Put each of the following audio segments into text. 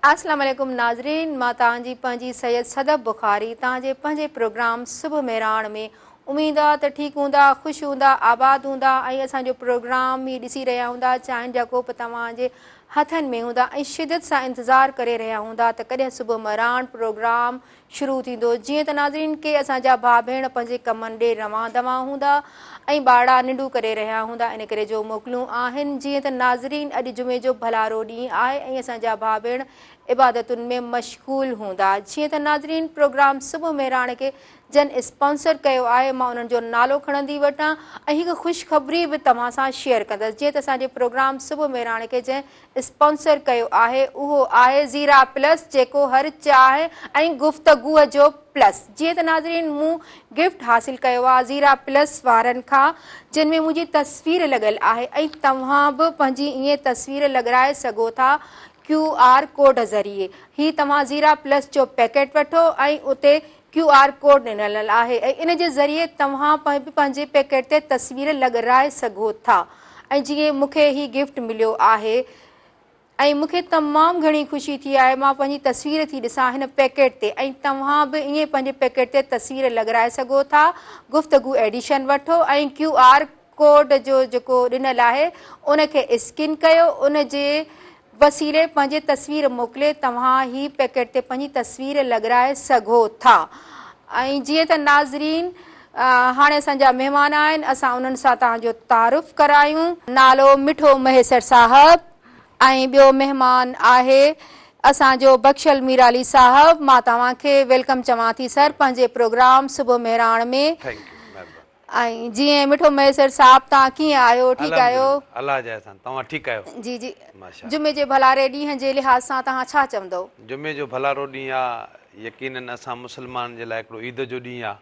اسلام عليڪم ناظرين مان توهان جي پنهنجي سيد صدف بخاري توهان جي پنهنجي پروگرام صبح مهراڻ ۾ اميد آ ته ٺيڪ هوندا خوش هوندا آباد هوندا ۽ اسان جو پروگرام هي ڏسي رهيا هوندا چانهن جا ڪوپ توهان جي هٿن ۾ هوندا ۽ شدت سان انتظار ڪري رهيا هوندا ته ڪڏهن صبح مهراڻ پروگرام شروع ٿيندو جيئن ته ناظرين ڪي اسان جا ڀاء ڀيڻ پنهنجي ڪمن ڏي روان دوان هوندا ۽ ٻاڙا ننڊون ڪري رهيا هوندا ان ڪري جو موڪلون آهن جيئن ته ناظرين اڄ جمعي جو ڀلارو ڏينهن آهي ۽ اسان جا ڀاء ڀيڻ عبادتن ۾ مشغول هوندا جيئن ته ناظرين پروگرام صبح مهراڻ کي جن اسپانسر ڪيو آهي مان انهن جو نالو کڻندي وٺان ۽ هڪ خوشخبري به توهان سان شيئر ڪندس جيئن ته اسان جي پروگرام صبح مهراڻ کي جنهن اسپانسر ڪيو آهي اهو آهي زيرا پلس جيڪو هر چاهه ۽ گفتگوء جو پلس جيئن ته ناظرين مون گفٽ حاصل ڪيو آهي زيرا پلس وارن کان جن ۾ منهنجي تصوير لڳل آهي ۽ توهان به پنهنجي ائين تصوير لڳرائي سگهو ٿا ڪيو آر ڪوڊ ذريعي هي توهان زيرا پلس جو پيڪيٽ وٺو ۽ اتي ڪيو آر ڪوڊ ڏنل آهي ۽ ان جي ذريعي توهان به پنهنجي پيڪيٽ تي تصوير لڳرائي سگهو ٿا ۽ جيئن مون کي هي گفٽ مليو آهي ۽ مون کي تمام گهڻي خوشي ٿي آهي مان پنهنجي تصوير ٿي ڏسان هن پيڪيٽ تي ۽ توهان به ائين پنهنجي پيڪيٽ تي تصوير لڳرائي سگهو ٿا گفتگو ايڊيشن وٺو ۽ ڪيو آر ڪوڊ جو جيڪو ڏنل آهي ان کي اسڪين ڪيو ان جي وسيلي پنهنجي تصوير موڪلي توهان هي پيڪيٽ تي پنهنجي تصوير لڳرائي سگهو ٿا ۽ جيئن ته ناظرين هاڻي اسان جا مهمان آهن اسان انهن سان توهان جو تعارف ڪرايون. نالو مٺو مهيسر صاحب ۽ ٻيو مهمان آهي اسان جو بخشل ميرالي صاحب مان توهان کي ويلڪم چوان ٿي سر پنهنجي پروگرام صبح مهراڻ ۾ ٿينڪ يو مهرباني. ۽ جي ائين مٺو ميسر صاحب تان ڪيئن آهيو ٺيڪ آهيو. الحمدلله الله جي احسان توهان ٺيڪ آهيو. جي جي ماشاء الله. جمعي جي ڀلاري ڏينهن جي لحاظ سان توهان ڇا چوندئو. جمعي جو ڀلارو ڏينهن آ يقينن اسان مسلمانن جي لاء هڪڙو عيد جو ڏينهن آ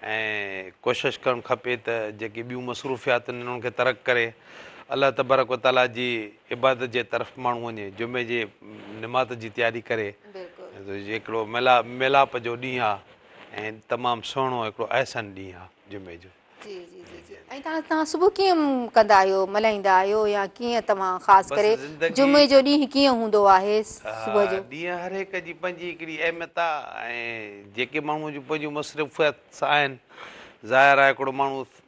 ۽ ڪوشش ڪرڻ کپي ته جيڪي ٻيون مصروفياتون آهن انهن کي ترڪ ڪري الله تبارڪ و تعالي جي عبادت جي طرف ماڻهو وڃي جمعي جي نماز جي تياري ڪري بلڪل هڪڙو ميلاپ جو ڏينهن آ. ۽ تمام سهڻو هڪڙو احسن ڏينهن آ جمعي جو. جي جي جي جي ۽ تان تان صبح ڪيئن ڪندا آهيو ملهائيندا آهيو يا ڪيئن توهان خاص ڪري جمعي جو ڏينهن ڪيئن هوندو آهي صبح جو. ڏينهن هر هڪ جي پنهنجي هڪڙي اهميت آ ۽ جيڪي ماڻهو جون پنهنجون مصروفيات آهن ظاهر آ هڪڙو ماڻهو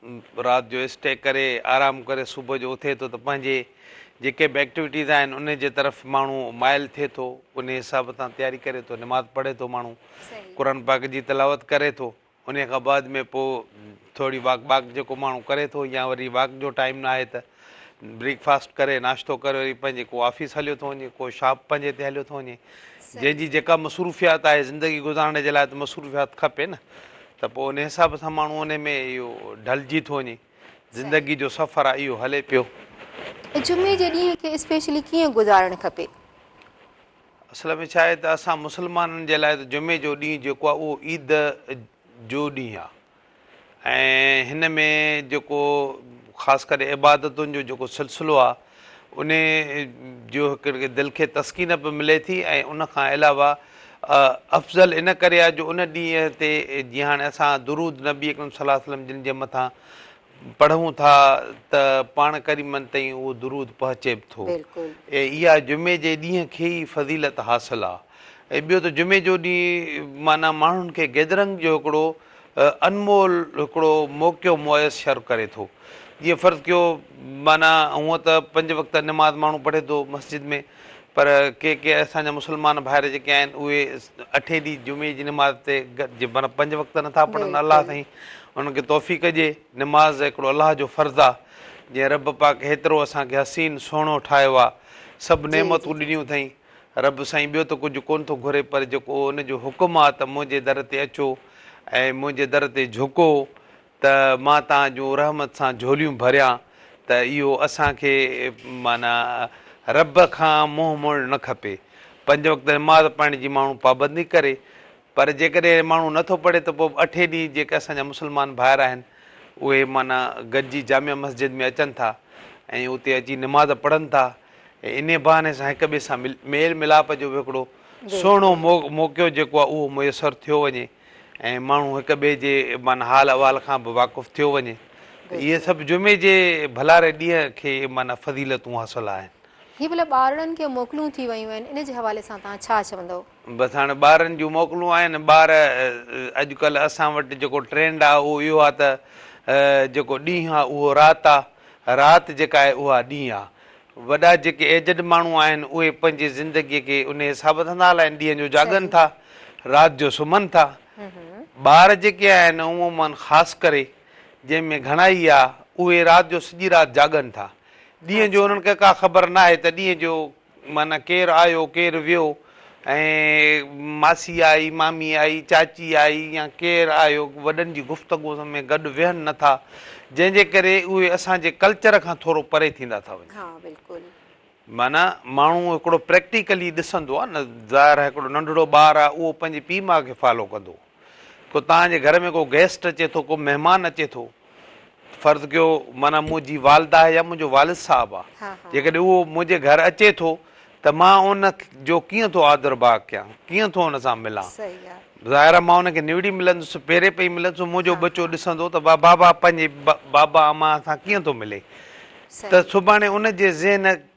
رات جو اسٽي ڪري آرام ڪري صبح جو اٿي ٿو ته پنهنجي جيڪي به ايڪٽيوٽيز آهن انهي جي طرف ماڻهو مائل ٿئي ٿو انهي حساب سان تياري ڪري ٿو نماز پڙهي ٿو ماڻهو قرآن پاڪ جي تلاوت ڪري ٿو انهي کان بعد ۾ پوء ٿوري واڪ باڪ جيڪو ماڻهو ڪري ٿو يا وري واڪ جو ٽائيم ناهي ته بريڪ فاسٽ ڪري ناشتو ڪري وري پنهنجي ڪو آفيس هليو ٿو وڃي ڪو شاپ پنهنجي تي هليو ٿو وڃي جنهن جي جيڪا مصروفيات آهي زندگي گذارڻ جي لاء ته مصروفيات کپي نه ته پوء ان حساب سان ماڻهو ان ۾ اهو ڍلجي ٿو وڃي زندگي جو سفر آهي اهو هلي پيو جمعي جي ڏينهن کي اسپيشلي ڪيئن گذارڻ کپي اصل ۾ ڇا آهي ته اسان مسلمانن جي لاء ته جمعي جو ڏينهن جيڪو آهي اهو عيد جو ڏينهن آهي ۽ هن ۾ جيڪو خاص ڪري عبادتن جو جيڪو سلسلو آهي ان جو هڪ دل کي تسڪين به ملي ٿي ۽ ان کان علاوه افضل ان ڪري آهي جو ان ڏينهن تي جيئن هاڻي اسان درود نبي اڪرم صلي الله عليه وسلم جن جي مٿان پڙهون ٿا ته پاڻ ڪريمن تائين اهو درود پهچي به ٿو بلڪل. ۽ اها جمعي جي ڏينهن کي ئي فضيلت حاصل آ ۽ ٻيو ته جمعي جو ڏينهن معنيٰ ماڻهن کي گيدرنگ جو هڪڙو انمول هڪڙو موقعو ميسر ڪري ٿو جيئن فرض ڪيو معنيٰ هونء ته پنج وقت نماز ماڻهو پڙهي ٿو مسجد ۾ پر ڪي ڪي اسان جا مسلمان ڀائر جيڪي آهن اهي اٺين ڏينهن جمعي جي نماز تي گڏجي معنيٰ پنج وقت نٿا پڙهن الله بلڪل سائين انهن کي توفيق ڏئي نماز هڪڙو الله جو فرض آ جنهن رب پاڪ هيترو اسان کي حسين سهڻو ٺاهيو آ سڀ جي جي نعمتون ڏنيون اٿئي رب سائين ٻيو ته ڪجهه ڪون ٿو گهري پر جيڪو ان جو حڪم آ ته منهنجي در تي اچو ۽ منهنجي در تي جهڪو ته مان تان جون رحمت سان جھوليون ڀريان ته اھو اسان کي معنيٰ رب کان منهن موڙڻ نه کپي. پنج وقت نماز پڙھڻ جي ماڻھو پابندي ڪري پر جيڪڏھن ماڻھو نه ٿو پڙھي ته پوء به اٺين ڏينهن جيڪي اسان جا مسلمان ڀائر آھن اھي معنيٰ گڏجي جامع مسجد ۾ اچن ٿا ۽ اتي اچي نماز پڙھن ٿا ۽ انھي بھاني سان ھڪ ٻئي سان ميل ميلاپ جو به ھڪڙو سهڻو موقعو جيڪو آھي اھو ميسر ٿيو وڃي. ۽ ماڻهو هڪ ٻئي جي معنيٰ حال احوال کان به واقف ٿيو وڃي ته اهي سڀ جمعي جي ڀلاري ڏينهن کي معنيٰ فضيلتون حاصل آهن. هي ڀلا ٻارڙن کي موڪلون ٿي ويون آهن ان جي حوالي سان توهان ڇا چوندؤ؟ بس هاڻي ٻارن جون موڪلون آهن ٻار اڄڪلهه اسان وٽ جيڪو ٽرينڊ آ اهو اهو آ ته جيڪو ڏينهن آ اهو رات آ رات جيڪا آهي اها ڏينهن آ وڏا جيڪي ايجڊ ماڻهو آهن اهي پنهنجي زندگي کي انهي حساب سان ٿا هلائين ڏينهن جو جاڳن ٿا رات جو سمهن ٿا ٻار جيڪي آهن عموما خاص ڪري جنهن ۾ گهڻائي آ اهي رات جو سڄي رات جاڳن ٿا ڏينهن جو انهن کي ڪا خبر ناهي ته ڏينهن جو معنيٰ ڪير آيو ڪير ويو ۽ ماسي آئي، مامي آئي، چاچي آئي يا ڪير آيو، وڏن جي گفتگو ۾ گڏ ويهن نه ٿا، جنهن جي ڪري اهي اسان جي ڪلچر کان ٿورو پري ٿيندا ٿا وڃن. ها بلڪل. معنيٰ ماڻهو هڪڙو پريڪٽيڪلي ڏسندو آ نه، ظاهر آ هڪڙو ننڍڙو ٻار آ اهو پنهنجي پيء ماء کي فالو ڪندو. ڪو توهان جي گهر ۾ ڪو گيسٽ اچي ٿو، ڪو مهمان اچي ٿو، فرض ڪيو معنيٰ منهنجي والده آهي يا منهنجو والد صاحب آ، جيڪڏهن اهو منهنجي گهر اچي ٿو ته مان ان جو ڪيئن ٿو آدر ڀاء ڪيان، ڪيئن ٿو ان سان ملان؟ ظاهر آ مان ان کي نوڙي ملندس، پيري پئي ملندس، هو منهنجو ٻچو ڏسندو ته واهه بابا پنهنجي بابا امان سان ڪيئن ٿو ملي؟ ته سڀاڻي ان جي ذهن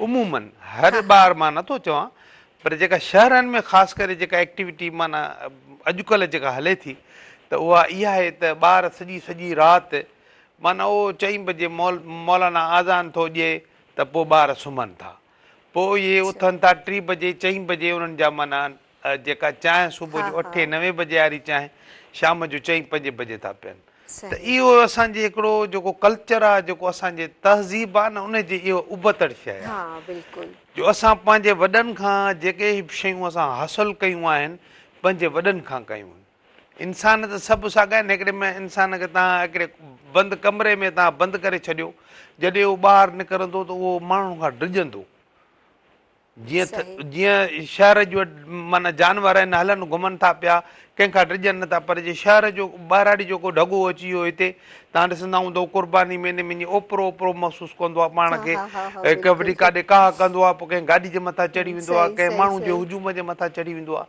عموماً هر ٻار مان نه ٿو چوان پر جيڪا شهرن ۾ خاص ڪري جيڪا ايڪٽيوٽي معنيٰ اڄڪلهه جيڪا هلي ٿي ته اها اها آهي ته ٻار سڄي سڄي رات معنيٰ اهو چئين بجي مول مولانا آذان ٿو ڏئي ته پوء ٻار سمهن ٿا پوء اهي اٿن ٿا ٽي بجي چئين بجي انهن جا معنيٰ جيڪا چانهه صبح جو اٺين نوين بجي واري چانهه شام جو چئين پنجين بجي ٿا پين ته اهو اسان جي هڪڙو جيڪو ڪلچر آهي جيڪو اسان جي تهذيب آهي نه ان جي اهو ابتڙ شيء آهي جو اسان پنهنجي وڏن کان جيڪي به شيون اسان حاصل ڪيون آهن پنهنجي وڏن کان ڪيون آهن انسان ته سڀ ساڳا آهن هڪڙي ۾ انسان کي تان هڪڙي بند ڪمري ۾ تان بند ڪري ڇڏيو جڏهن اهو ٻاهر نڪرندو ته اهو ماڻهن کان ڊڄندو جيئن تھ جيئن شهر جو معنيٰ جانور آهن، هلن گهمن ٿا پيا، ڪنهن کان ڊڄن نه ٿا، پر جي شهر جو ٻهراڙي جو ڪو ڍڳو اچي ويو هتي، تان ڏسندا هوندا هو قرباني ميني مڃي اوپرو اوپرو محسوس ڪندو آهي پاڻ کي، ڪنهن وٽي ڪاڏي ڪاهه ڪندو آهي، پوء ڪنهن گاڏي جي مٿان چڙهي ويندو آهي، ڪنهن ماڻهو جي هجوم جي مٿان چڙهي ويندو آهي.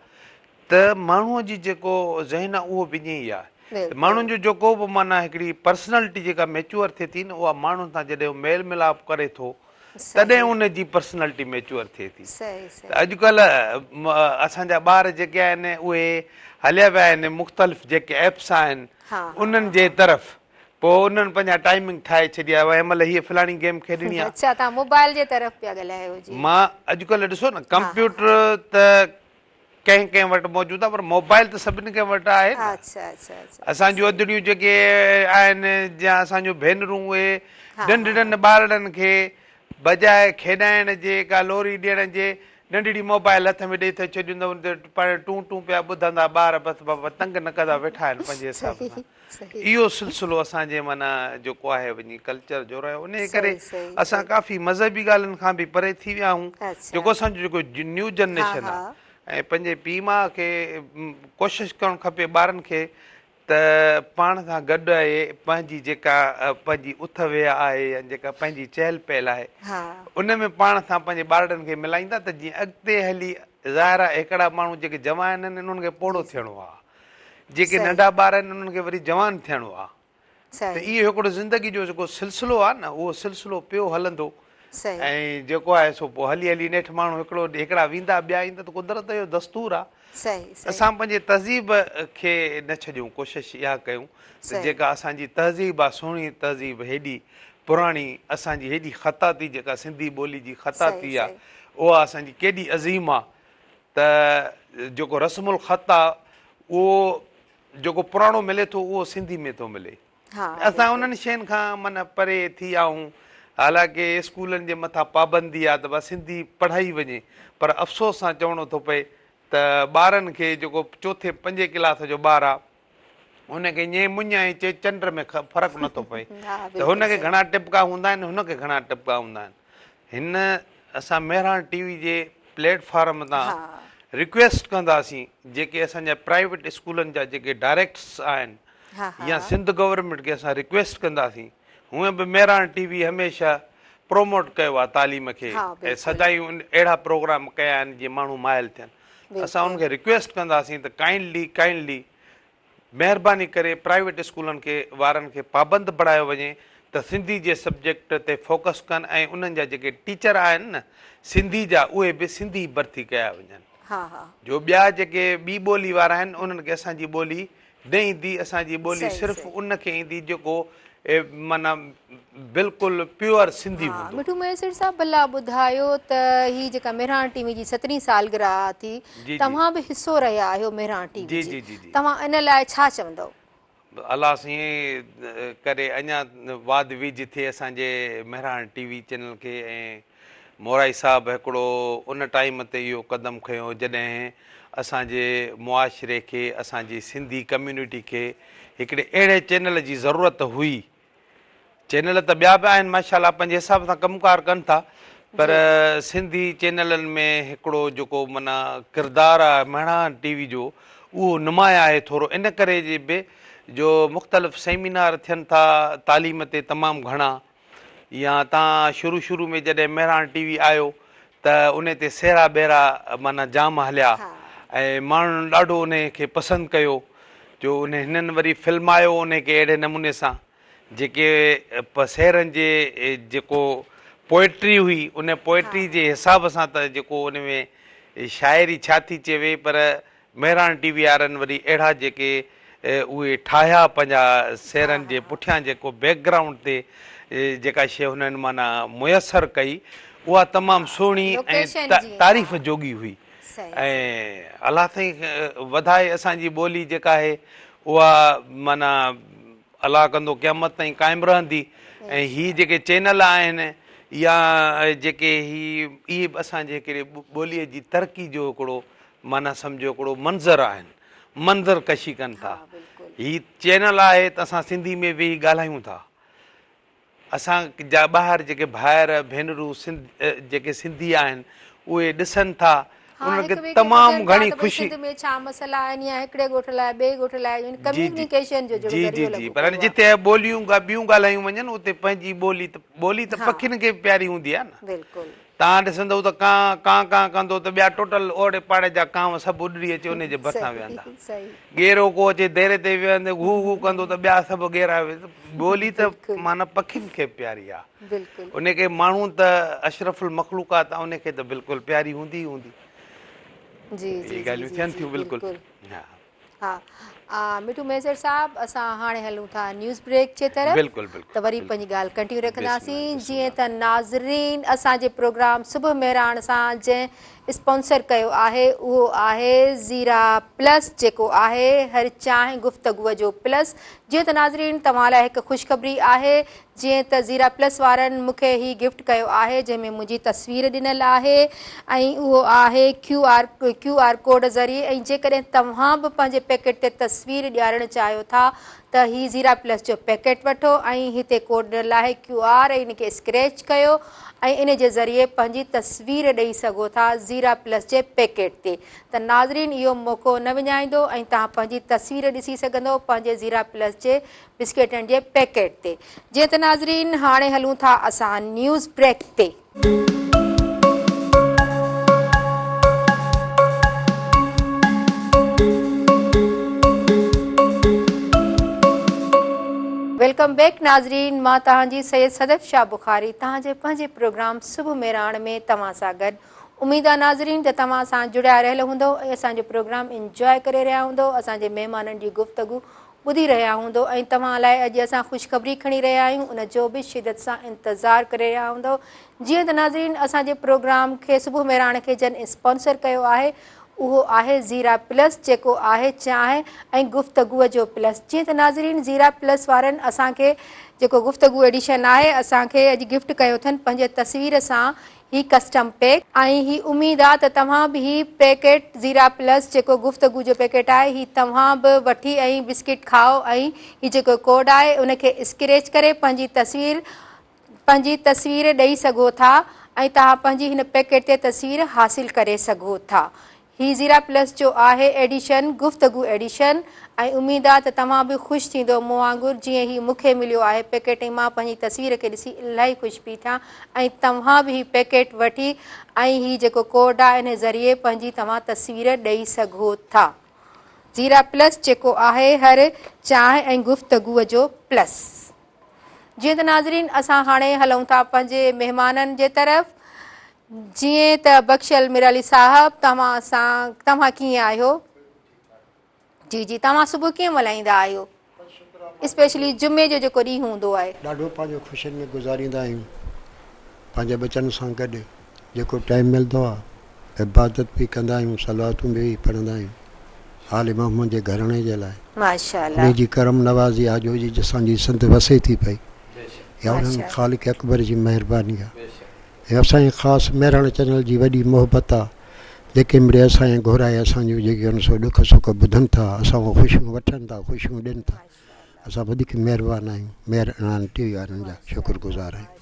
ته ماڻهوء جي جيڪو ذهن آهي اهو به ائين ئي آهي ته ماڻهن جو جيڪو به معنيٰ هڪڙي پرسنالٽي جيڪا ميچوئر ٿئي ٿي نه اها ماڻهن سان جڏهن هو ميل ملاپ ڪري ٿو تڏهن ان جي پرسنالٽي ميچوئر ٿئي ٿي ته اڄڪلهه اسان جا ٻار جيڪي آهن اهي هليا ويا آهن مختلف جيڪي ايپس آهن انهن جي طرف پوء انهن پنهنجا ٽائمنگ ٺاهي ڇڏيا هن مهل هيء فلاڻي گيم کيڏڻي آهي اچا تان موبائل جي طرف پيا ڳالهايو جي مان اڄڪلهه ڏسو نه ڪمپيوٽر ته ڪنهن ڪنهن وٽ موجود آهي پر موبائل ته سڀني کي وٽ آهي نه اچھا اچھا اچھا اسان جون ادڙيون جيڪي آهن يا اسان جون ڀينرون اهي ننڍڙن ٻارڙن کي بجاء کيڏائڻ جي ڪا لوري ڏيڻ جي ننڍڙي موبائل هٿ ۾ ڏئي ٿي ڇڏيون اٿن ان تي ٽون ٽون پيا ٻڌندا ٻار بس بابا تنگ نه ڪندا ويٺا آهن پنهنجي حساب سان اهو سلسلو اسان جي معنيٰ جيڪو آهي وڃي ڪلچر جو رهيو انهي ڪري اسان ڪافي مذهبي ڳالهين کان به پري ٿي ويا آهيون جيڪو اسان جو جيڪو نيو جنريشن آهي ۽ پنهنجي پيء ماء کي ڪوشش ڪرڻ کپي ٻارن کي ته پاڻ سان گڏ آهي پنهنجي جيڪا پنهنجي اٿ ويهه آهي يا جيڪا پنهنجي چهل پهل آهي ان ۾ پاڻ سان پنهنجي ٻارڙن کي ملائيندا ته جيئن اڳتي هلي ظاهر آهي هڪڙا ماڻهو جيڪي جوان آهن انهن کي پوڙهو ٿيڻو آهي جيڪي ننڍا ٻار آهن انهن کي وري جوان ٿيڻو آهي ته اهو هڪڙو زندگي جو جيڪو سلسلو آهي نه اهو سلسلو پيو هلندو ۽ جيڪو آهي سو پوء هلي هلي نيٺ ماڻهو هڪڙو هڪڙا ويندا ٻيا ايندا ته قدرت جو دستور آهي اسان پنهنجي تهذيب کي نه ڇڏيون ڪوشش اها ڪيون ته جيڪا اسان جي تهذيب آهي سهڻي تهذيب هيڏي پراڻي اسان جي هيڏي خطاطي جيڪا سنڌي ٻولي جي خطاطي آهي اها اسان جي ڪيڏي عظيم آهي ته جيڪو رسم الخط آ اهو جيڪو پراڻو ملي ٿو اهو سنڌي ۾ ٿو ملي اسان انهن شين کان من پري ٿي آهون حالانڪه اسڪولن جي مٿان پابندي آ ته بس سنڌي پڙهائي وڃي پر افسوس سان چوڻو ٿو پئي ته ٻارن کي جيڪو چوٿين پنجين ڪلاس جو ٻار آ هن کي ائين مڃ ۽ چي چنڊ ۾ فرق نٿو پئي ته هن کي گهڻا ٽپڪا هوندا آهن هن کي گهڻا ٽپڪا هوندا آهن هن اسان مهراڻ ٽي وي جي پليٽ فارم تان ريڪويسٽ ڪنداسين جيڪي اسان جا پرائيويٽ اسڪولن جا جيڪي ڊائريڪٽس آهن يا سنڌ گورنمنٽ کي اسان ريڪويسٽ ڪنداسين هونئن به مهراڻ ٽي وي هميشه پروموٽ ڪيو آهي تعليم کي سدائين اهڙا پروگرام ڪيا آهن جي ماڻهو مائل ٿين اسان انهن کي رڪويسٽ ڪنداسين ته ڪائنڊلي ڪائنڊلي مهرباني ڪري پرائيويٽ اسڪولن کي وارن کي پابند بڻايو وڃي ته سنڌي جي سبجيڪٽ تي فوڪس ڪن ۽ انهن جا جيڪي ٽيچر آهن نه سنڌي جا اهي به سنڌي ڀرتي ڪيا وڃن جو ٻيا جيڪي ٻي ٻولي وارا آهن انهن کي اسان جي ٻولي نه ايندي اسان جي ٻولي صرف ان کي ايندي جيڪو معنيٰ بلڪل پيور سنڌي هوندو. ها مٺو مهيسر صاحب ڀلا ٻڌايو ته هي جيڪا مهراڻ ٽي وي جي سترهين سالگرهه آ ٿي توهان به حصو رهيا آهيو مهراڻ ٽي وي جي توهان ان لاء ڇا چوندؤ؟ الله سائين ڪري اڃا واڌ ويجهه ٿئي اسان جي مهراڻ ٽي وي چينل کي ۽ مورائي صاحب هڪڙو ان ٽائيم تي اهو قدم کنيو جڏهن اسان جي معاشري کي اسان جي سنڌي ڪميونٽي کي هڪڙي اهڙي چينل جي ضرورت هئي چينل ته ٻيا به آهن ماشاء الله پنهنجي حساب سان ڪم ڪار ڪن ٿا پر جي سنڌي چينلن ۾ هڪڙو جيڪو منا ڪردار آهي مهڙان ٽي وي جو اهو نمايان آهي ٿورو ان ڪري جي به جو مختلف سيمينار ٿين ٿا تعليم تي تمام گهڻا يا تان شروع شروع ۾ جڏهن مهراڻ ٽي وي آيو ته انهي تي سهرا بهرا معنيٰ جام هليا ۽ ماڻهن ڏاڍو انهي کي پسند ڪيو جو انهي هنن وري فلمايو انهي کي اهڙي نموني سان جيڪي پ سهرن جي جيڪو پوئٽري هئي انهي پوئٽري جي حساب سان ته جيڪو انهي ۾ شاعري ڇا ٿي چئي وئي پر مهراڻ ٽي وي وارن وري اهڙا جيڪي اهي ٺاهيا پنهنجا سيرن جي پٺيان جيڪو بيڪ گرائونڊ تي جيڪا شيء هنن معنيٰ ميسر ڪئي اها تمام سهڻي ۽ تعريف جوڳي هئي ۽ الله تائين وڌائي اسان جي ٻولي جيڪا آهي اها معنيٰ الله ڪندو قيامت تائين قائم رهندي ۽ هي جيڪي چينل آهن يا جيڪي هي اهي به اسان جي هڪڙي ٻوليء جي ترقي جو هڪڙو معنيٰ سمجهو هڪڙو منظر آهن منظر ڪشي ڪن ٿا هي چينل آهي ته اسان سنڌي ۾ ويهي ڳالهايون ٿا اسان جا ٻاهر جيڪي ڀائر ڀينرون سنڌ جيڪي سنڌي آهن اهي ڏسن ٿا انهن کي تمام گهڻي خوشي سنڌ ۾ ڇا مسئلا آهن يا هڪڙي ڳوٺ لاء ٻئي ڳوٺ لاء ان ڪميونيڪيشن جو جڙو ذريعو لڳو پر جتي ٻوليون ٻيون ڳالهايون وڃن اتي پنهنجي ٻولي ته ٻولي ته پکين کي به پياري هوندي آهي نه بلڪل تان ڏسندؤ ته ڪانء ڪانء ڪانء ڪندو ته ٻيا ٽوٽل اوڙي پاڙي جا ڪانء سڀ اڏري اچي انهيء جي ڀرسان ويهندا. ڳيرو ڪو اچي ديري تي ويهندي گهو گهو ڪندو ته ٻيا سڀ ڳيرا ويهندي. ٻولي ته معنيٰ پکين کي به پياري آ. انهيء ڪري ماڻهو ته اشرف المخلوقات آ انهيء کي ته بلڪل پياري هوندي ئي هوندي. اهي ڳالهيون ٿين ٿيون بلڪل. ها آ مٺو ميسر صاحب اسان هاڻي هلون ٿا نيوز بريڪ جي طرف بلڪل بلڪل ته وري پنهنجي ڳالهه ڪنٽيو رکنداسين جيئن ته ناظرين اسان جي پروگرام صبح مهراڻ سان جنهن اسپانسر ڪيو آهي اهو آهي زيرا پلس جيڪو آهي هر چانهه گفتگو جو پلس جيئن ته ناظرين توهان لاء هڪ خوشخبري آهي جيئن ته زيرا پلس وارن مون کي هي گفٽ ڪيو آهي جنهن ۾ منهنجي تصوير ڏنل آهي ۽ اهو آهي Q R Q R code ذريعي ۽ جيڪڏهن توهان به پنهنجي پيڪيٽ تي تصوير ڏيارڻ چاهيو ٿا ته هي زيرا پلس جو پيڪيٽ وٺو ۽ هتي ڪوڊ ڏنل آهي ڪيو آر ۽ ان کي اسڪريچ ڪيو ۽ ان جي ذريعي پنهنجي تصوير ڏئي سگهو ٿا زيرا پلس جي پيڪيٽ تي ته ناظرين اهو موقعو نه وڃائيندو ۽ توهان پنهنجي تصوير ڏسي سگهندو پنهنجي زيرا پلس جي بسڪيٽن جي پيڪيٽ تي. جيئن ته ناظرين هاڻي هلون ٿا اسان نيوز بريڪ تي. ويلڪم بيڪ ناظرين مان توهان جي سيد صدف شاهه بخاري توهان جي پنهنجي پروگرام صبح ميراڻ ۾ توهان سان گڏ اميد آ ناظرين ته توهان اسان جڙيا رهيل هوندو ۽ اسان جو پروگرام انجوء ڪري رهيا هوندو اسان جي مهمانن جي گفتگو ٻڌي رهيا هوندو ۽ توهان لاء اڄ اسان خوشخبري کڻي رهيا آهيون ان جو به شدت سان انتظار ڪري رهيا هوندو جيئن ته ناظرين اسان جي پروگرام کي صبح مهراڻ کي جن اسپانسر ڪيو آهي اهو آهي زيرا پلس جيڪو آهي چانهه ۽ گفتگو جو پلس جيئن ته ناظرين زيرا پلس وارن اسان کي جيڪو گفتگو ايڊيشن آهي اسان کي اڄ گفٽ ڪيو اٿن پنهنجي تصوير سان هي ڪسٽم پيڪ. ۽ هي اميد آ ته توهان به هي پيڪيٽ زيرا پلس جيڪو گفتگو جو پيڪيٽ آهي هي توهان به وٺي ۽ بسڪٽ کائو ۽ هي جيڪو ڪوڊ آهي ان کي اسڪريچ ڪري پنهنجي تصوير پنهنجي تصوير ڏئي سگهو ٿا ۽ توهان پنهنجي هن پيڪيٽ تي تصوير حاصل ڪري سگهو ٿا هي زيرا پلس جو آهي ايڊيشن گفتگو ايڊيشن ۽ اميد آ ته توهان به خوش ٿيندو مون وانگر جيئن هي مون کي مليو آهي پيڪيٽ ۽ مان پنهنجي تصوير کي ڏسي الاهي خوش پي ٿيان ۽ توهان به هي پيڪيٽ وٺي ۽ هي جيڪو ڪوڊ آ انهي ذريعي پنهنجي توهان تصوير ڏئي سگهو ٿا زيرا پلس جيڪو آهي هر چانهه ۽ گفتگو جو پلس جيئن ته ناظرين اسان هاڻي هلون ٿا پنهنجي مهمانن جي طرف جيئن ته بخشيل ميرعلي صاحب توهان سان توهان ڪيئن آهيو جي جي توهان صبح ڪيئن ملهائيندا آهيو اسپيشلي جمعي جو جيڪو ڏينهن هوندو آهي. ڏاڍو پنهنجو خوشين ۾ گذاريندا آهيون پنهنجي ٻچن سان گڏ جيڪو ٽائيم ملندو آهي عبادت به ڪندا آهيون صلواتون به پڙهندا آهيون آل محمد جي گهراڻي جي لاء انهي جي ڪرم نوازي آجو جي اسان جي سنڌ وسي ٿي پئي اها انهن خالق اڪبر جي مهرباني آهي. يا سائين خاص مهراڻ چينل جي وڏي محبت آ جيڪي مڙيئي سائين گهرائي اسان جون جيڪي هن سو ڏک سک ٻڌن ٿا اسان کان خوشيون وٺن ٿا خوشيون ڏين ٿا اسان وڌيڪ مهربان آهيون مهراڻ ٽي وي وارن جا شڪر گذار آهيون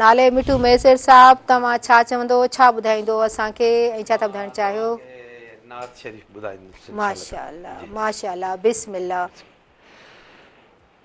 نالي مٺو ميسر صاحب توهان ڇا چوندو ڇا ٻڌائيندو اسان کي ۽ ڇا ٿا ٻڌائڻ چاهيو نعت شريف ٻڌائيندو ماشاءالله ماشاءالله بسم الله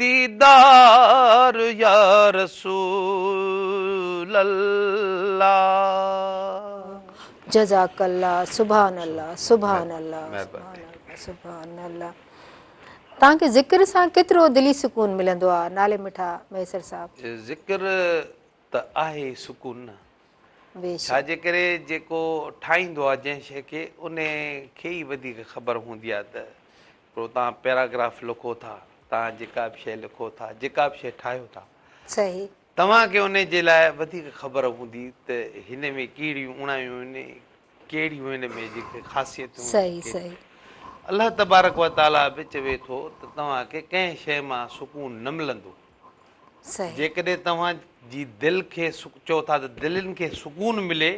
ديدار يا رسول الله. جزاڪ الله سبحان الله سبحان الله سبحان الله سبحان الله توهان کي ذڪر سان ڪيترو دلي سڪون ملندو آ نالي مٺا مهيسر صاحب. ذڪر ته آهي سڪون نه ڇا جي ڪري جيڪو ٺاهيندو آ جنهن شي کي انهي کي ئي وڌيڪ خبر هوندي آ ته پوء توهان پيراگراف لکو ٿا، توهان جيڪا به شيء لکو ٿا، جيڪا به شيء ٺاهيو ٿا. صحيح. توهان کي ان جي لاء وڌيڪ خبر هوندي ته هن ۾ ڪهڙيون اوڻايون آهن، ڪهڙيون هن ۾ جيڪي خاصيتون آهن. صحيح صحيح. الله تبارڪ و تعاليٰ به چوي ٿو ته توهان کي ڪنهن شيء مان سڪون نه ملندو. صحيح. جيڪڏهن توهان جي دل کي چئو ٿا ته دلين کي سڪون ملي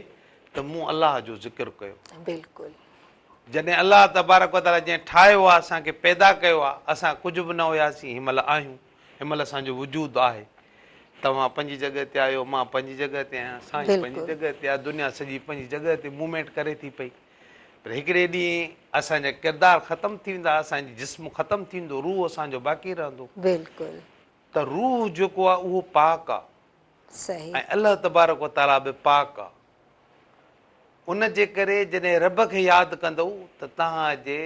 ته مون الله جو ذڪر ڪيو. بلڪل. جڏهن الله تبارڪ و تعاليٰ جنهن ٺاهيو آهي، اسان کي پيدا ڪيو آهي، اسان ڪجهه به نه هياسين، هن مهل آهيون، هن مهل اسان جو وجود آهي. توهان پنهنجي جڳهه تي آهيو، مان پنهنجي جڳهه تي آهيان، سائين پنهنجي بلڪل جڳهه تي آهي، دنيا سڄي پنهنجي جڳهه تي موومينٽ ڪري ٿي پئي. پر هڪڙي ڏينهن اسان جا ڪردار ختم ٿي ويندا، اسان جي جسم ختم ٿي ويندو، روح اسان جو باقي رهندو. بلڪل. ته روح جيڪو آهي اهو پاڪ آهي صحيح. ۽ الله تبارڪ و تعاليٰ به پاڪ آهي. ان جي ڪري جڏهن رب کي ياد ڪندؤ ته توهان جي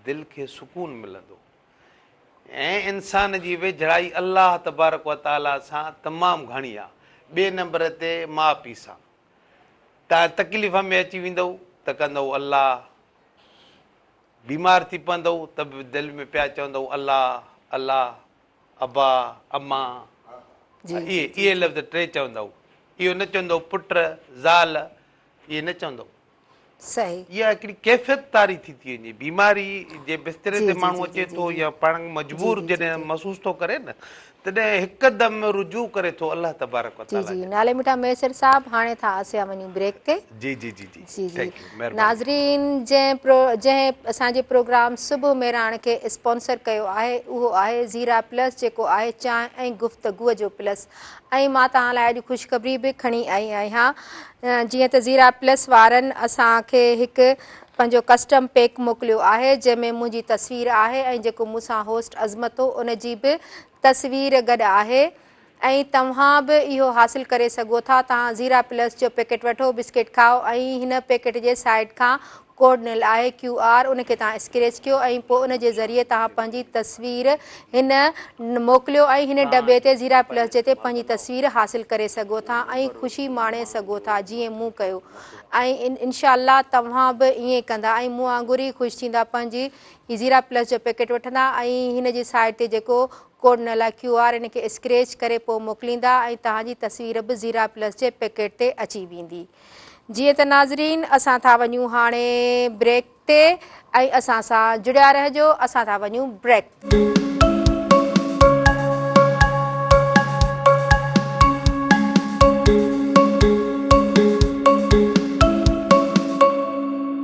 دل کي سڪون ملندو ۽ انسان جي ويجھڙائي الله تبارڪ و تعاليٰ سان تمام گھڻي آ ٻئي نمبر تي ماء پيء سان تان تڪليف ۾ اچي ويندو ته ڪندو الله بيمار ٿي پوندو ته به دل ۾ پيا چوندو الله الله ابا، اما، اهي اهي لفظ ٽي چوندا هو. اهو نه چوندا هو پٽ، زال، اهي نه چوندا هو. صحيح. اها هڪڙي ڪيفيت طاري ٿي ٿي وڃي. بيماري جي بستري تي ماڻهو اچي ٿو يا پاڻ کي مجبور جڏهن محسوس ٿو ڪري نه تڏهن هڪدم رجوع ڪري ٿو الله تبارڪ وتعاليٰ جي. جي جي نالي مٺا ميسر صاحب هاڻي ٿا اسيا وڃون بريڪ تي. جي جي جي جي. جي جي ناظرين جنهن پرو جنهن اسان جي پروگرام صبح مهراڻ کي اسپانسر ڪيو آهي اهو آهي زيرا پلس جيڪو آهي چانهه ۽ گفتگو جو پلس ۽ مان توهان لاء اڄ خوشخبري به کڻي آئي آهيان جيئن ته زيرا پلس وارن اسان کي هڪ پنهنجو ڪسٽم پيڪ موڪليو آهي جنهن ۾ منهنجي تصوير آهي ۽ جيڪو مون سان هوسٽ عظمت هو ان جي به تصوير گڏ آهي ۽ توهان به اهو حاصل ڪري سگهو ٿا توهان زيرا پلس جو پيڪيٽ وٺو بسڪيٽ کائو ۽ هن پيڪيٽ جي سائيڊ کان ڪوڊ ڏنل آهي ڪيو آر ان کي توهان اسڪريچ ڪيو ۽ پوء ان جي ذريعي توهان پنهنجي تصوير هن موڪليو ۽ هن ڊٻي تي زيرا پلس جي تي پنهنجي تصوير حاصل ڪري سگهو ٿا ۽ خوشي ماڻي سگهو ٿا جيئن مون ڪيو ۽ انشاء الله توهان به ائين ڪندا ۽ مون وانگر ئي خوش ٿيندا پنهنجي هي زيرا پلس جو پيڪيٽ وٺندا ۽ هن جي سائيڊ تي جيڪو ڪوڊ نه لاء ڪيو آر ان کي اسڪريچ ڪري پوء موڪليندا ۽ توهان جي تصوير به زيرا پلس جي پيڪيٽ تي اچي ويندي جيئن ته ناظرين اسان ٿا وڃون هاڻي بريڪ تي ۽ اسان سان جڙيا رهجو اسان ٿا وڃون بريڪ تي.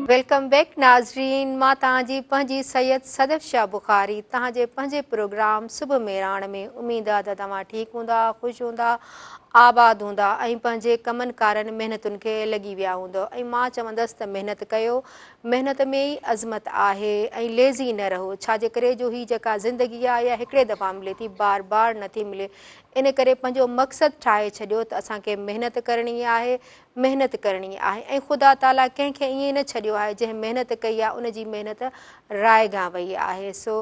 ويلڪم بيڪ ناظرين مان توهان جي پنهنجي سيد صدف شاھ بخاري توهان جي پنهنجي پروگرام صبح ميراڻ ۾ اميد آ ته توهان ٺيڪ هوندا خوش هوندا آباد هوندا ۽ پنهنجي ڪمن ڪارن محنتن کي لڳي ويا هوندو ۽ مان چوندس ته محنت ڪيو محنت ۾ ئي عظمت آهي ۽ ليزي نه رهو ڇا جي ڪري جو هي جيڪا زندگي آ اها هڪڙي دفعا ملي ٿي بار بار نٿي ملي ان ڪري پنهنجو مقصد ٺاهي ڇڏيو ته اسان کي محنت ڪرڻي آهي محنت ڪرڻي آهي ۽ خدا تعاليٰ ڪنهن کي ائين نه ڇڏيو آهي جنهن محنت ڪئي آهي ان جي محنت رائگان وئي آهي سو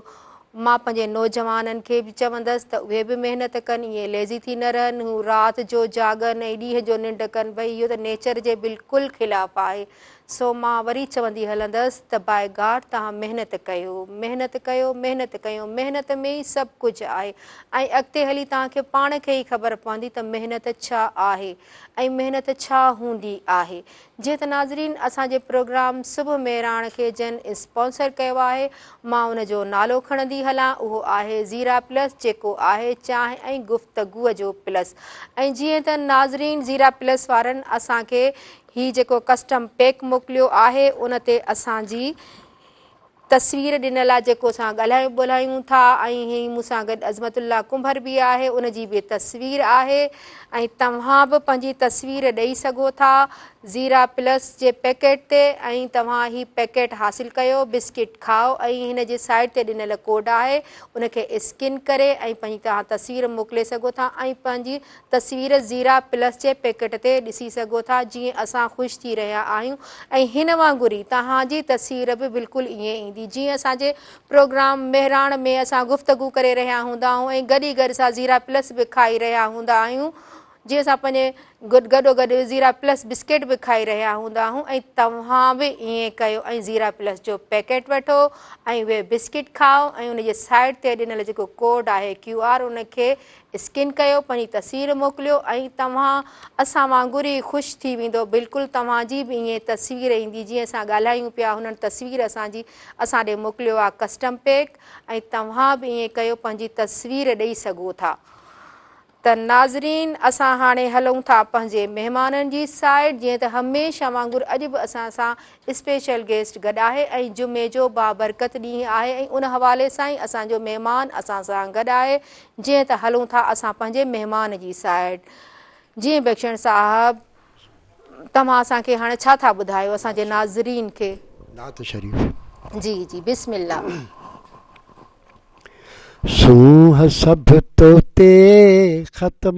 مان پنهنجي نوجوانن کي به چوندس ته اهي به محنت ڪن ائين ليزي ٿي نه رهن هو رات جو جاڳن ۽ ڏينهن جو ننڊ ڪن ڀئي اهو ته نيچر جي بلڪل خلاف آهي سو مان وري چوندي هلندس ته باء گاڊ توهان محنت ڪيو محنت ڪيو محنت ڪيو محنت ۾ ئي سڀ ڪجهه آهي ۽ اڳتي هلي توهان کي پاڻ کي ئي خبر پوندي ته محنت ڇا آهي ۽ محنت ڇا هوندي آهي جيئن ته ناظرين اسان جي پروگرام صبح مهراڻ کي جنهن اسپانسر ڪيو آهي مان ان جو نالو کڻندي هلان اهو آهي زيرا پلس جيڪو آهي چانهه ۽ گفتگو جو پلس ۽ جيئن ته ناظرين زيرا پلس وارن اسان کي هي جيڪو ڪسٽم پيڪ موڪليو آهي ان تي اسان جي تصوير ڏنل آ جيڪو اسان ڳالهايون ٻولهايون ٿا ۽ هي مون سان گڏ عظمت الله ڪنڀر به آهي ان جي به تصوير آهي ۽ توهان به پنهنجي تصوير ڏئي سگهو ٿا زيرا پلس جي پيڪيٽ تي ۽ توهان هي پيڪيٽ حاصل ڪيو بسڪيٽ کاء ۽ هن جي سائيڊ تي ڏنل ڪوڊ آهي ان کي اسڪين ڪري ۽ پنهنجي توهان تصوير موڪلي سگهو ٿا ۽ پنهنجي تصوير زيرا پلس جي پيڪٽ تي ڏسي سگهو ٿا جيئن اسان خوش ٿي رهيا آهيون ۽ هن وانگر ئي توهان جي تصوير به بلڪل ائين ايندي جيئن اسان جي پروگرام مهراڻ ۾ اسان گفتگو ڪري رهيا هوندا آهيون ۽ گڏ ئي گڏ اسان زيرا پلس به کائي رهيا هوندا آهيون جيئن اسان پنهنجي گڏو گڏ زيرا پلس بسڪيٽ به کائي رهيا هوندا آهيون ۽ توهان به ائين ڪيو ۽ زيرا پلس جو پيڪيٽ وٺو ۽ اهي بسڪيٽ کائو ۽ ان جي سائيڊ تي ڏنل جيڪو ڪوڊ آهي ڪيو آر ان کي اسڪين ڪيو پنهنجي تصوير موڪليو ۽ توهان اسان وانگر ئي خوش ٿي ويندو بلڪل توهان جي به ائين تصوير ايندي جيئن اسان ڳالهايون پيا هنن تصوير اسان جي اسان ڏي موڪليو آهي ڪسٽم پيڪ ۽ توهان به ائين ڪيو پنهنجي تصوير ڏئي سگهو ٿا ته ناظرين اسان هاڻي هلون ٿا پنهنجي مهمانن جي سائيڊ جيئن ته هميشه وانگر اڄ به اسان سان اسپيشل گيسٽ گڏ آهي ۽ جمعي جو بابرڪت ڏينهن آهي ۽ ان حوالي سان ئي اسان جو مهمان اسان سان گڏ آهي جيئن ته هلون ٿا اسان پنهنجي مهمان جي سائيڊ جي بخشڻ صاحب توهان اسان کي هاڻي ڇا ٿا ٻڌايو اسان جي ناظرين کي نعت شريف جي جي بسم الله سونهن سڀ تو تي ختم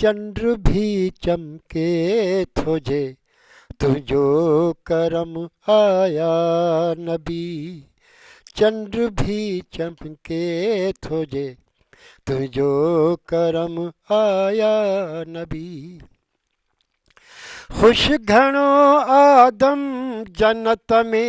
چنڊ ڀي چمڪي ٿو جي تنهنجو ڪرم آ يا نبي چنڊ ڀي چمڪي ٿو جي تنهنجو ڪرم آ يا نبي خوش گهڻو آدم جنت ۾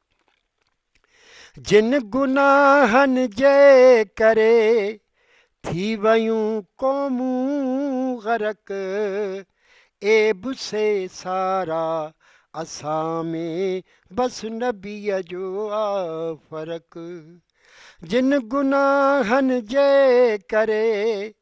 جن گناهن جي ڪري ٿي ويون قومون غرق عيب سي سارا اسان ۾ بس نبي جو آ فرق جن گناهن جي ڪري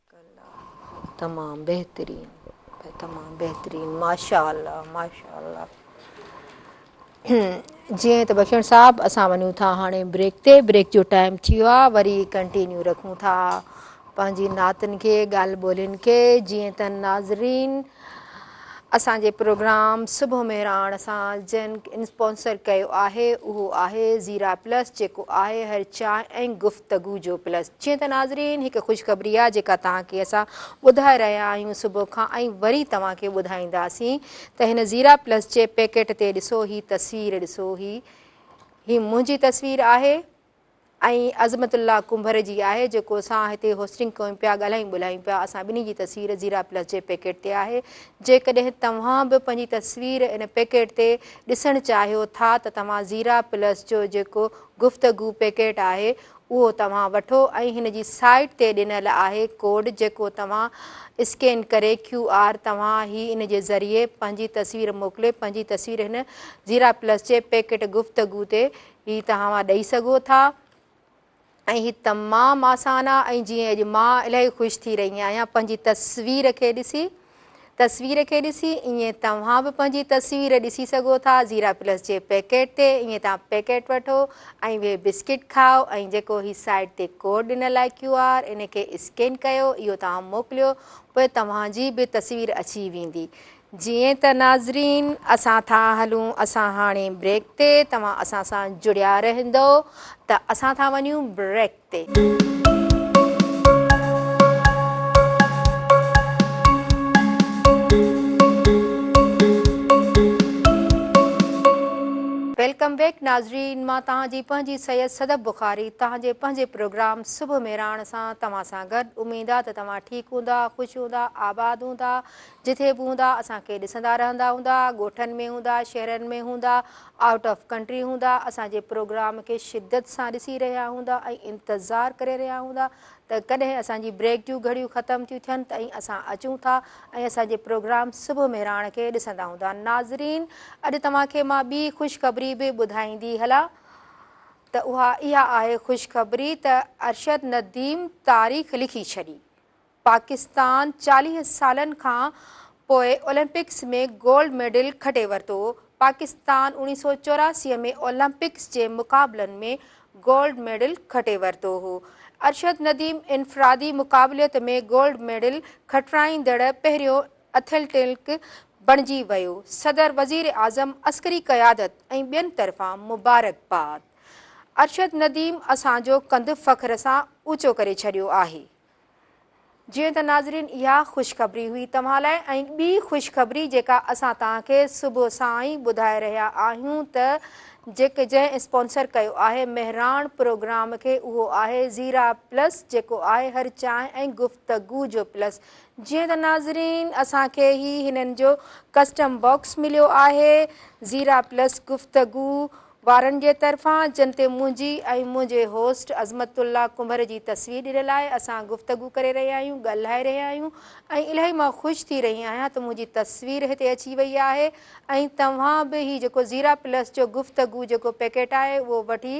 ڪلا تمام بهترين تمام بهترين ماشاءالله ماشاءالله جي ته بخشڻ صاحب اسان ونيو ٿا هاڻي بريڪ تي بريڪ جو ٽائم ٿي ويو آ وري ڪنٽينيو رکون ٿا پنهنجي ناتن کي ڳالهه ٻولين کي جي ته ناظرين اسان جي پروگرام صبح مهراڻ سان جن اسپانسر ڪيو آهي اهو آهي زيرا پلس جيڪو آهي هر چانهه ۽ گفتگو جو پلس جيئن ته ناظرين هڪ خوشخبري آهي جيڪا توهان کي اسان ٻڌائي رهيا آهيون صبح کان ۽ وري توهان کي ٻڌائينداسين ته هن زيرا پلس جي پيڪيٽ تي ڏسو هي تصوير ڏسو هي هي منهنجي تصوير آهي ۽ عظمت الله ڪنڀر جي آهي جيڪو اسان هتي هوسٽنگ ڪيون پيا ڳالهايون ٻولهايون پيا اسان ٻنهي جي تصوير زيرا پلس جي پيڪيٽ تي آهي جيڪڏهن توهان به پنهنجي تصوير ان پيڪيٽ تي ڏسڻ چاهيو ٿا ته توهان زيرا پلس جو جيڪو گفتگو پيڪيٽ آهي اهو توهان وٺو ۽ هن جي سائيٽ تي ڏنل آهي ڪوڊ جيڪو توهان اسڪين ڪري ڪيو آر توهان هي ان جي ذريعي پنهنجي تصوير موڪلي پنهنجي تصوير هن زيرا پلس جي پيڪيٽ گفتگو تي هي ته اوهان ڏئي سگهو ٿا ۽ هي تمام آسان آهي ۽ جيئن اڄ مان الائي خوش ٿي رهي آهيان پنهنجي تصوير کي ڏسي تصوير کي ڏسي ائين توهان به پنهنجي تصوير ڏسي سگهو ٿا زيرا پلس جي پيڪيٽ تي ائين توهان پيڪيٽ وٺو ۽ اهي بسڪيٽ کائو ۽ جيڪو هي سائيٽ تي ڪوڊ ڏنل آهي ڪيو آر ان کي اسڪين ڪيو اهو توهان موڪليو پوء توهان جي به تصوير اچي ويندي جيئن ته ناظرين اسان ٿا هلون اسان هاڻي بريڪ تي توهان اسان سان جڙيا رهندو ته اسان ٿا وڃون بريڪ تي. ويلڪم بيڪ ناظرين مان توهان جي پنهنجي سيد صدف بخاري توهان جي پنهنجي پروگرام صبح مهراڻ سان توهان سان گڏ اميد آ ته توهان ٺيڪ هوندا خوش هوندا آباد هوندا جتي به هوندا اسان کي ڏسندا رهندا هوندا ڳوٺن ۾ هوندا شهرن ۾ هوندا آئوٽ آف ڪنٽري هوندا اسان جي پروگرام کي شدت سان ڏسي رهيا هوندا ۽ انتظار ڪري رهيا هوندا ته ڪڏهن اسان جي بريڪ جون گهڙيون ختم ٿيون ٿين ته ۽ اسان اچون ٿا ۽ اسان جي پروگرام صبح مهراڻ کي ڏسندا هوندا ناظرين اڄ توهان کي مان ٻي خوشخبري به ٻڌائيندي هلان ته اها اها آهي خوشخبري ته ارشد نديم تاريخ لکي ڇڏي پاڪستان چاليهه سالن کان پوء اولمپڪس ۾ گولڊ ميڊل کٽي ورتو، پاڪستان اوڻيهه سؤ چوراسي ۾ اولمپڪس جي مقابلن ۾ گولڊ ميڊل کٽي ورتو هو، ارشد نديم انفرادي مقابليت ۾ گولڊ ميڊل کٽرائيندڙ پهريون اٿيلٽلڪ بڻجي ويو، صدر وزيراعظم عسڪري قيادت ۽ ٻين طرفان مبارڪباد، ارشد نديم اسان جو ڪنڌ فخر سان اوچو ڪري ڇڏيو آهي. جيئن ته ناظرين اها خوشخبري هئي توهان لاء ۽ ٻي خوشخبري جيڪا اسان توهان کي صبح سان ئي ٻڌائي رهيا آهيون ته جيڪي جنهن اسپانسر ڪيو آهي مهراڻ پروگرام کي اهو آهي زيرا پلس جيڪو آهي هر چانهه ۽ گفتگو جو پلس جيئن ته ناظرين اسان کي هي هنن جو ڪسٽم باڪس مليو آهي زيرا پلس گفتگو وارن جي طرفان جن تي منهنجي ۽ منهنجي هوسٽ عظمت الله ڪنڀر جي تصوير ڏنل آهي اسان گفتگو ڪري رهيا آهيون ڳالهائي رهيا آهيون ۽ الائي مان خوش ٿي رهي آهيان ته منهنجي تصوير هتي اچي وئي آهي ۽ توهان به هي جيڪو زيرا پلس جو گفتگو جيڪو پيڪيٽ آهي اهو وٺي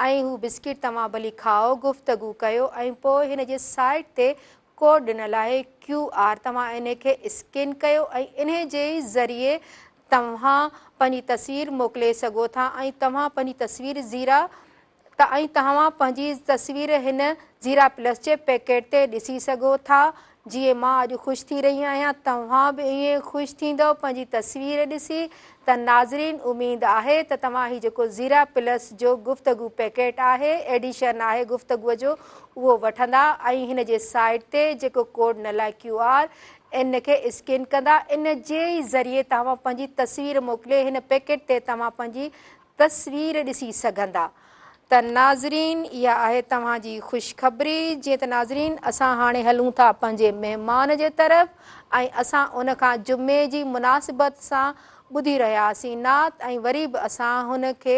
۽ هو بسڪيٽ توهان ڀلي کائو گفتگو ڪيو ۽ پوء هن جي سائيٽ تي ڪوڊ ڏنل آهي ڪيو آر توهان انهي کي اسڪين ڪيو ۽ انهي جي ئي ذريعي توهان پنهنجي تصوير موڪلي سگهو ٿا ۽ توهان پنهنجي تصوير زيرا ته ۽ توهان پنهنجي تصوير هن زيرا پلس جي پيڪيٽ تي ڏسي سگهو ٿا جيئن مان اڄ خوش ٿي رهي آهيان توهان به ائين خوش ٿيندؤ پنهنجي تصوير ڏسي ته ناظرين اميد آهي ته توهان هي جيڪو زيرا پلس جو گفتگو پيڪيٽ آهي ايڊيشن آهي گفتگو جو اهو وٺندا ۽ هن جي سائيٽ تي جيڪو ڪوڊ نه لاء ڪيو آر ان کي اسڪين ڪندا ان جي ئي ذريعي توهان پنهنجي تصوير موڪلي هن پيڪيٽ تي توهان پنهنجي تصوير ڏسي سگهندا ته ناظرين اها آهي توهان جي خوشخبري جيئن ته ناظرين اسان هاڻي هلون ٿا پنهنجي مهمان جي طرف ۽ اسان ان کان جمعي جي مناسبت سان ٻڌي رهياسين نعت ۽ وري به اسان هن کي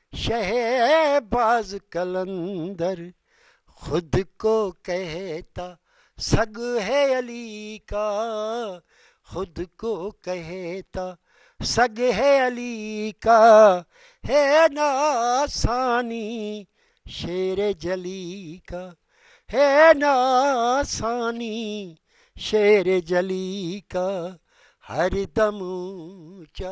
شهباز قلندر خود ڪو ڪهتا سڳ هي علي ڪا خود ڪو ڪهتا سڳ هي علي ڪا هي نه آساني شير جلي ڪا هي نه آساني شير جلي ڪا هر دم اونچا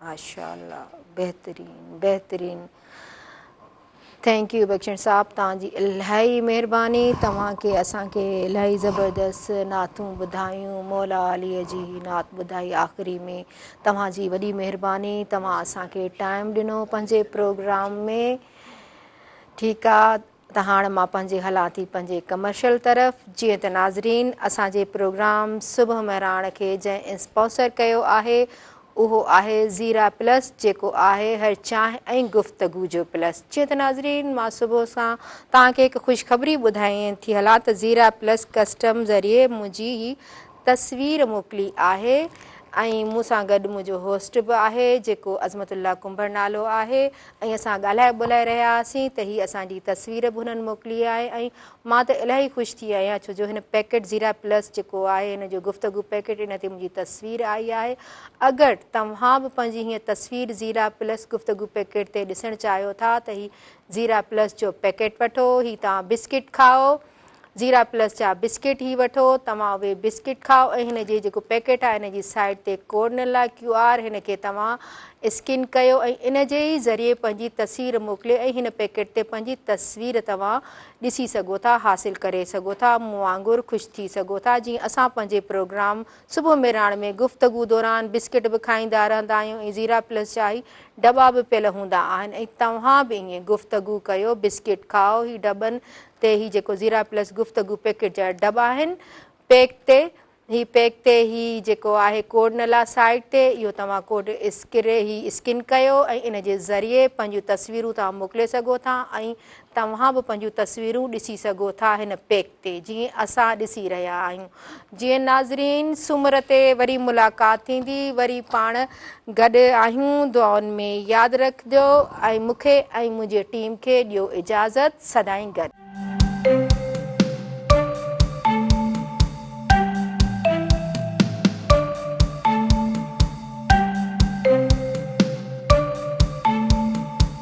ماشاءالله بهترين بهترين ٿينڪ يو بخشڻ صاحب توهان جي الاهي مهرباني توهان کي اسان کي الاهي زبردست نعتون ٻڌايون مولا علي جي نعت ٻڌائي آخري ۾ توهان جي وڏي مهرباني توهان اسان کي ٽائم ڏنو پنهنجي پروگرام ۾ ٺيڪ ته هاڻ مان پنهنجي هلان ٿي پنهنجي ڪمرشل طرف جيئن ته ناظرين اسان جي پروگرام صبح مهراڻ کي جنهن انسپاسر ڪيو آهي اهو آهي زيرا پلس جيڪو آهي هر چانهه ۽ گفتگو جو پلس جيئن ته ناظرين مان صبح سان توهان کي هڪ خوشخبري ٻڌائين ٿي هلان ته زيرا پلس ڪسٽم ذريعي منهنجي هي تصوير موڪلي آهي ۽ مون سان گڏ منهنجو هوسٽ به آهي جيڪو عظمت الله ڪنڀر نالو آهي ۽ اسان ڳالهائي ٻولهائي رهيا هئاسين ته هي اسان جي تصوير به هنن موڪلي آهي ۽ مان ته الاهي خوش ٿي آهيان ڇو جو هن پيڪيٽ زيرا پلس جيڪو آهي هن جو گفتگو پيڪيٽ ان تي منهنجي تصوير آئي آهي اگر توهان به پنهنجي هيء تصوير زيرا پلس گفتگو پيڪيٽ تي ڏسڻ چاهيو ٿا ته هي زيرا پلس جو پيڪيٽ وٺو هي توهان بسڪيٽ کائو زيرا پلس جا بسڪيٽ هي وٺو توهان اهي بسڪيٽ کاء ۽ هن جي جيڪو پيڪيٽ آهي ان جي سائيڊ تي ڪورنلا ڪيو آر هن کي توهان اسڪين ڪيو ۽ ان جي ئي ذريعي پنهنجي تصوير موڪلي ۽ هن پيڪيٽ تي پنهنجي تصوير توهان ڏسي سگهو ٿا حاصل ڪري سگهو ٿا مون وانگر خوش ٿي سگهو ٿا جيئن اسان پنهنجي پروگرام صبح مهراڻ ۾ گفتگو دوران بسڪيٽ به کائيندا رهندا آهيون ۽ زيرا پلس جا هي ڊٻا به پيل هوندا آهن ۽ توهان به ائين گفتگو ڪيو بسڪيٽ کاء هي ڊٻن تي هي جيڪو زيرا پلس گفتگو پيڪٽ جا ڊب آهن پيڪ تي هي پيڪ تي هي جيڪو آهي ڪوڊ نلا سائيٽ تي اهو توهان ڪوڊ اسڪري هي اسڪن ڪيو ۽ ان جي ذريعي پنهنجون تصويرون توهان موڪلي سگهو ٿا ۽ توهان به پنهنجون تصويرون ڏسي سگهو ٿا هن پيڪ تي جيئن اسان ڏسي رهيا آهيون جي ناظرين سومر تي وري ملاقات ٿيندي وري پاڻ گڏ آهيون دعائن ۾ ياد رکجو ۽ مون کي ۽ منهنجي ٽيم کي ڏيو اجازت سدائين گڏ.